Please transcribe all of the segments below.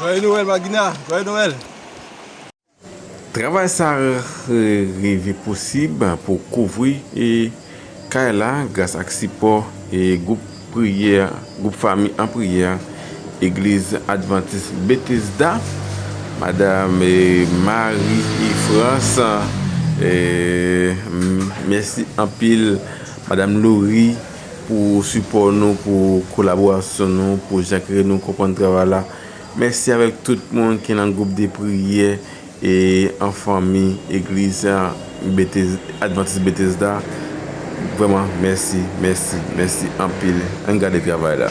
Joyeux Noël ma Gina, Joyeux Noël. Travay sa rive posib pou kouvri kay la gras ak sipò gwoup priyè gwoup fanmi an priyè Egliz Advantis Bethesda Madam Marie France mèsi anpil. Madam Laurie pou sipò nou pou kolaborasyon nou pou jan kere nou konprann travay la mèsi avèk tout moun ki nan gwoup de priyè e an fanmi egliz advantis Bethesda vrèman mèsi mèsi mèsi anpil ann gade travay la.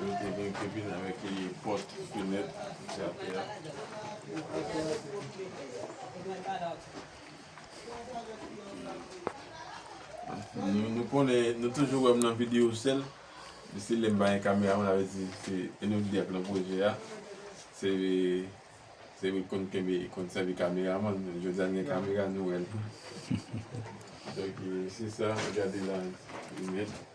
Yo te vin te vin avèk e pòt fenèt ki atè a. Nou nou konnen nou toujou wèm nan video sèl men se lèm pa gen kamera mwen avè di se enèm ki ap nan pwojè a se se mwen konn kenbe konn sèvi kamera man men jodi an gen kamera nou wèl donk se sa gade la fenèt.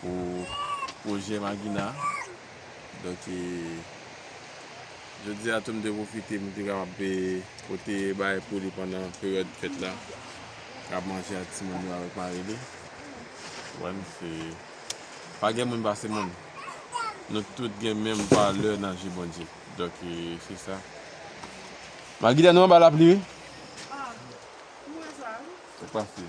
Pou pwojè Magina, donk e jodi a tou m te pwofite pou m te kapab e pote bagay pou li pandan peryòd fèt la, kab manje ak timoun yo avèk mari li. Ou wè m se pa gen moun pase moun. Nou tout gen menm valè nan je Bondye. Donk e se sa. Magina nou anba lapli wi. Ah, ou wè sa wi. Sak pase?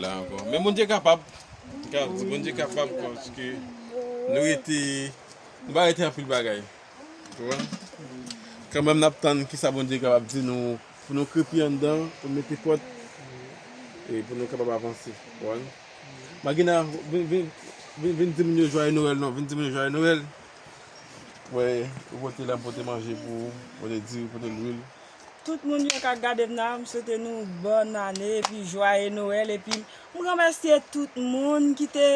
La ankò. Men Bondye kapab. Bondye kapab paske nou rete, nou pa rete anpil bagay. Konprann? Kanmenm nap tann ki sa Bondye kapab di nou pou nou krepi anndan, pou nou mete kòd e pou nou kapab avanse. Konprann? Magina, vin, vin, vin, vin di moun yo jwaye Noël non. Vin di moun yo jwaye Noël. Wè, ou pote la, m pote manje pou ou. Pote diri, pote lwil. Tout moun yo kap gadem la m swete nou bòn ane epi jwaye noel epi m remèsye tout moun ki te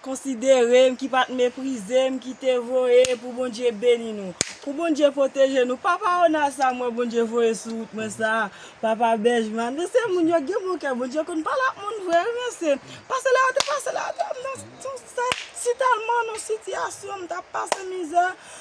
konsiderem ki pat meprizem ki te voye pou Bondye beni nou pou Bondye pwoteje nou papa ona sa mwen Bondye voye sou wout mwen sa papa bèjman nou se moun yo gen bon kè Bondye konn pale ak moun vre wi mesye pase la yo te pase la avèm nan sitalman nan sitiyasyon m tap pase mizè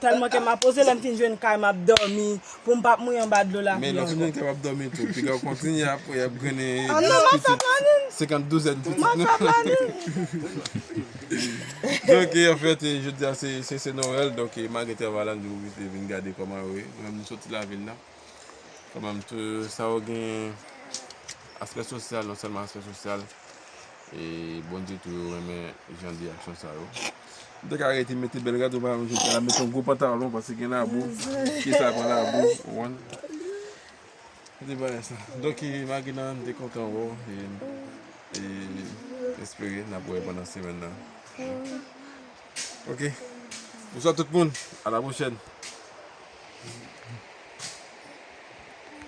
Tèlman kèm ap poze lèm fin jwenn kay map dòmi poum pa mouye anba dlo lavi ankò. Men lòt kote wap dòmi tou pigaw kontinye ap wè yap grennen 10 pitit 50 douzèn pitit nou. Maka planin. Donk anfèt jodia se Noël donk malgre travay la nou oblije vin gade kòman yo ye nou menm nou soti lavil la kanmèm tou sa yo gen aspè sosyal non sèlman aspè sosyal E Bondye tou yo renmen jan de aksyon sa yo. Ou te ka rete mete bel rad ou pa mete la mete yon gwo pantalon pase gen labou ki sa pran labou ou wan. Ou te bay sa. Donk e magina m te kontan wè w e e espere nap wè pandan semèn nan. Ok. Bonswa tout moun. A la pwochèn.